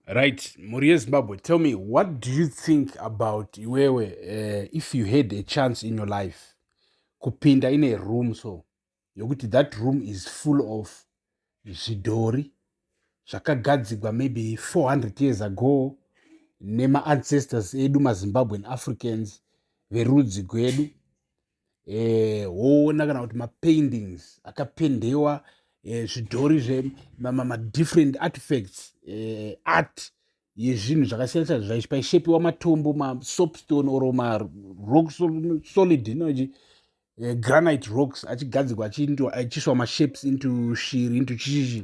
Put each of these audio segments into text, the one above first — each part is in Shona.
Right, mhuri yeZimbabwe, tell me what do you think about iwewe uh, if you had a chance in your life kupinda in a room so yokuti that room is full of zvidhori zvakagadzigwa maybe 400 years ago nema ancestors edu mazimbabwean africans verudzi gwedu eh, woona kana kuti mapaintings akapendewa eh, zvidhori zvemamadifferent artifacts eh, art yezvinhu zvakasiyana siyana zvaichi paishepiwa matombo masopstone or marock solid inochi eh, granite rocks achigadzirwa achiswa mashapes into shiri into chichichi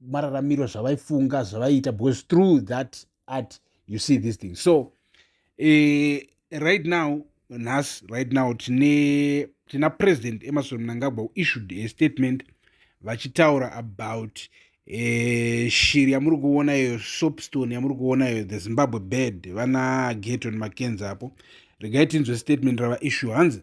mararamiro zvavaifunga zvavaiita because through that art you see this thing so eh, right now nhasi right now tine tina president emerson mnangagwa issued a statement vachitaura about eh, shiri yamuri kuona iyo sopstone yamuri kuona iyo the zimbabwe bed vana geton makenzi apo regai tinzwe statement rava issue hanzi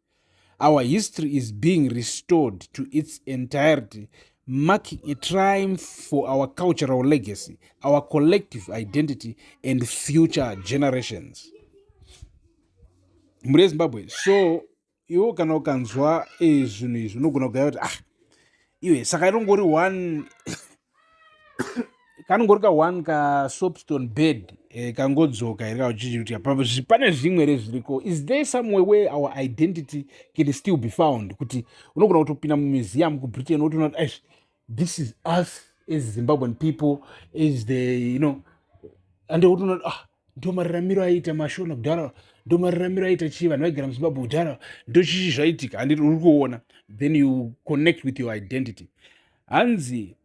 our history is being restored to its entirety marking a triumph for our cultural legacy our collective identity and future generations mhuri yezimbabwe so iwo kana ukanzwa eh, zvinhu izvi unogona kugaya kuti ah iwe saka inongori one kanongori ka one ka soapstone bed eh, kangodzoka here kauchichirutika pane zvimwe here zviriko is there some way where our identity can still be found kuti unogona kutopinda mumuseum kubritain wotoona kuti aish this is us as zimbabwean people as the you know and wotoona ah ndomararamiro aiita mashona kudhara ndomararamiro aiita chii vanhu vaigara muzimbabwe kudhara ndochichi zvaiitika handiti uri kuona then you connect with your identity hanzi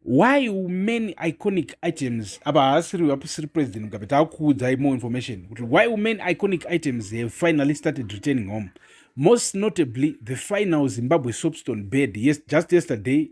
why many iconic items apa haasiri apusiri president mugabe taakuudzai more information kuti why many iconic items have finally started returning home most notably the final zimbabwe soapstone bed yes, just yesterday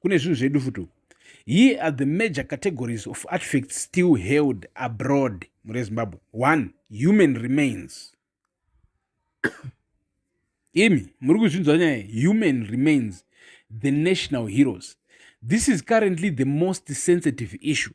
kune zvinhu zvedu futi uku here are the major categories of artifacts still held abroad mure zimbabwe one human remains imi muri kuzvinzwa nyaya human remains the national heroes this is currently the most sensitive issue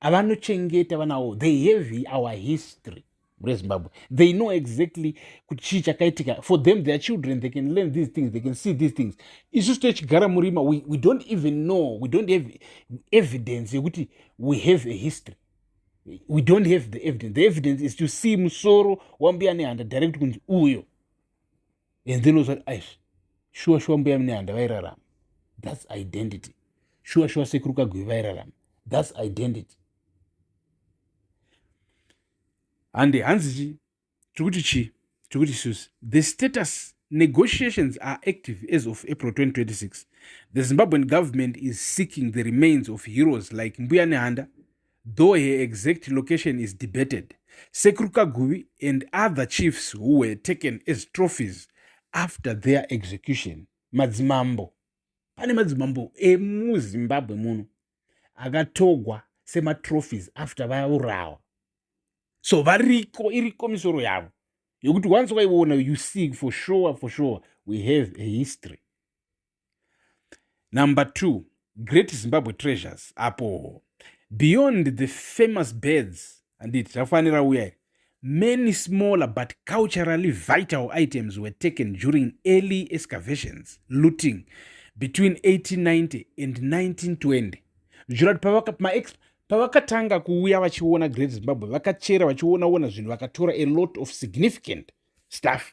avanochengeta vana avo they have our history rezimbabwe they know exactly kuti chii chakaitika for them their children they can learn these things they can see these things isusu techigara murima we, we don't even know we don't have evidence yekuti we have a history we don't have the evidence the evidence is to see musoro wambuya nehanda direct kunzi uyo and then ozvati aish shuwa shuwa mbuya mine handa vairarama thats identity shuwa shuwa sekuru kagwivi vairarama thats identity handi hanzi chi tiri kuti chii tiri kuti susi the status negotiations are active as of april 2026 the zimbabwean government is seeking the remains of heroes like mbuya nehanda though her exact location is debated, Sekuru Kaguvi and other chiefs who were taken as trophies after their execution. Madzimambo. Pane madzimambo emuZimbabwe muno akatogwa sematrophies after vaurawa. So variko iriko misoro yavo yokuti once waiona you see for sure for sure we have a history. number two great zimbabwe treasures apo beyond the famous birds anditi zvafanira uya many smaller but culturally vital items were taken during early excavations looting between 1890 and 1920 zvichirati pavakamaexp pavakatanga kuuya vachiona great zimbabwe vakachera vachionaona zvinhu vakatora a lot of significant stuff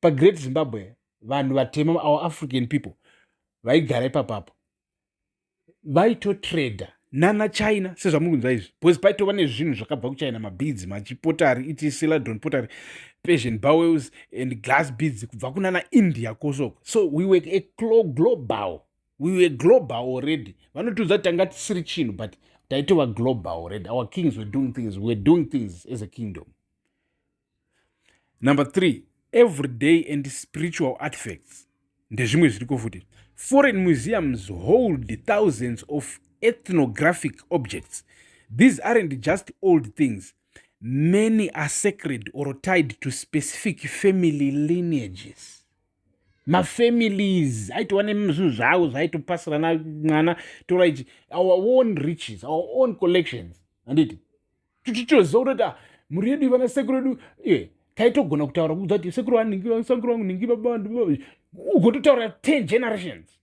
pagreat zimbabwe vanhu vatema our african people vaigara ipapapo vaitotrader nana china sezvamuri kunzwa izvi because paitova nezvinhu zvakabva kuchina mabeads machipotari iti siladron potary persian bowels and glass beads kubva kunana india kosoko so we were a global we were global already vanotiudza kuti tanga tisiri chinhu but taitova global already our kings were doing things we were doing things as a kingdom number three everyday and spiritual artifacts ndezvimwe zviriko futi foreign museums hold thousands of ethnographic objects these aren't just old things many are sacred or tied to specific family lineages mafamilies aitova nezvinhu zvavo zvaitopasirana mwana tora ichi our own riches our own collections handiti tichitoziva kuti ah, mhuri yedu ivana sekuru yedu eh, taitogona kutaura kuudza kuti sekuru vanhingisekuru vangu ningi baba ugototaura ten generations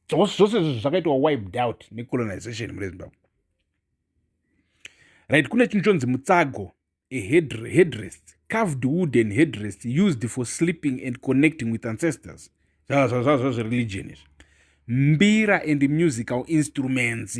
zvose izvozvo zvakaitwa wiped out necolonization mune zimbabwe right kune chinhu chonzi mutsago a headrest carved wooden headrest used for sleeping and connecting with ancestors zvazvazvazvazvereligion izvi mbira and musical instruments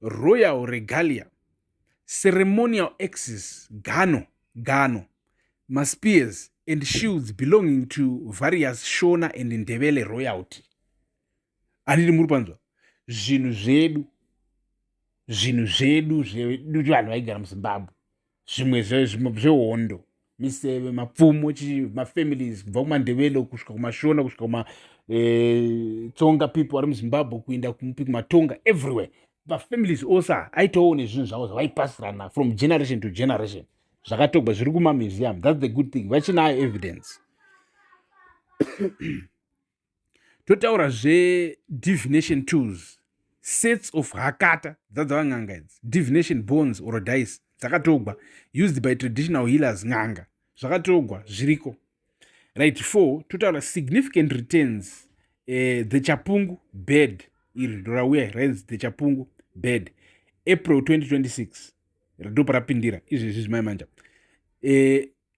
royal regalia ceremonial axes gano gano maspears and shields belonging to various shona and ndevele royalty anditi muri panzwa zvinhu zvedu zvinhu zvedu zvedu vanhu vaigara muzimbabwe zvimwe zvehondo miseve mapfumo mafamilies kubva kumandevelo kusvika kumashona kusvika kumatsonga eh, people ari muzimbabwe kuenda kumupi kumatonga everywhere mafamilies ose aitowo nezvinhu zvavo zvavaipasirana from generation to generation zvakatogwa zviri kumamuseum thats the good thing vachinayo evidence totaura zvedivination tools sets of hakata dzadzava n'anga idzi divination bones or dice dzakatogwa used by traditional healers n'anga zvakatogwa zviriko right four totaura significant returns eh, the chapungu bed iri ndorauya rains the chapungu bed april 2026 ratoparapindira izvezvi zvimai manja eh,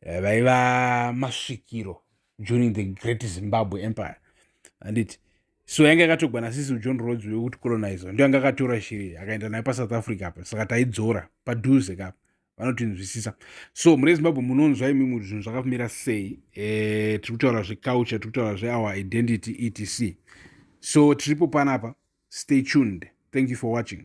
eh, vaiva masvikiro during the great zimbabwe empire anditi so yanga yakatorwa nasisi ujohn rods wekuti colonizer ndo yanga akatora shiri akaenda nayo pasouth africa apa saka taidzora padhuze kapa vanotinzwisisa so mune zimbabwe munonzwa imimi kuti zvinhu zvakamira sei e, tiri kutaura zveculture tiri kutaura zveour identity etc so tiripo panapa stay tuned thank you for watching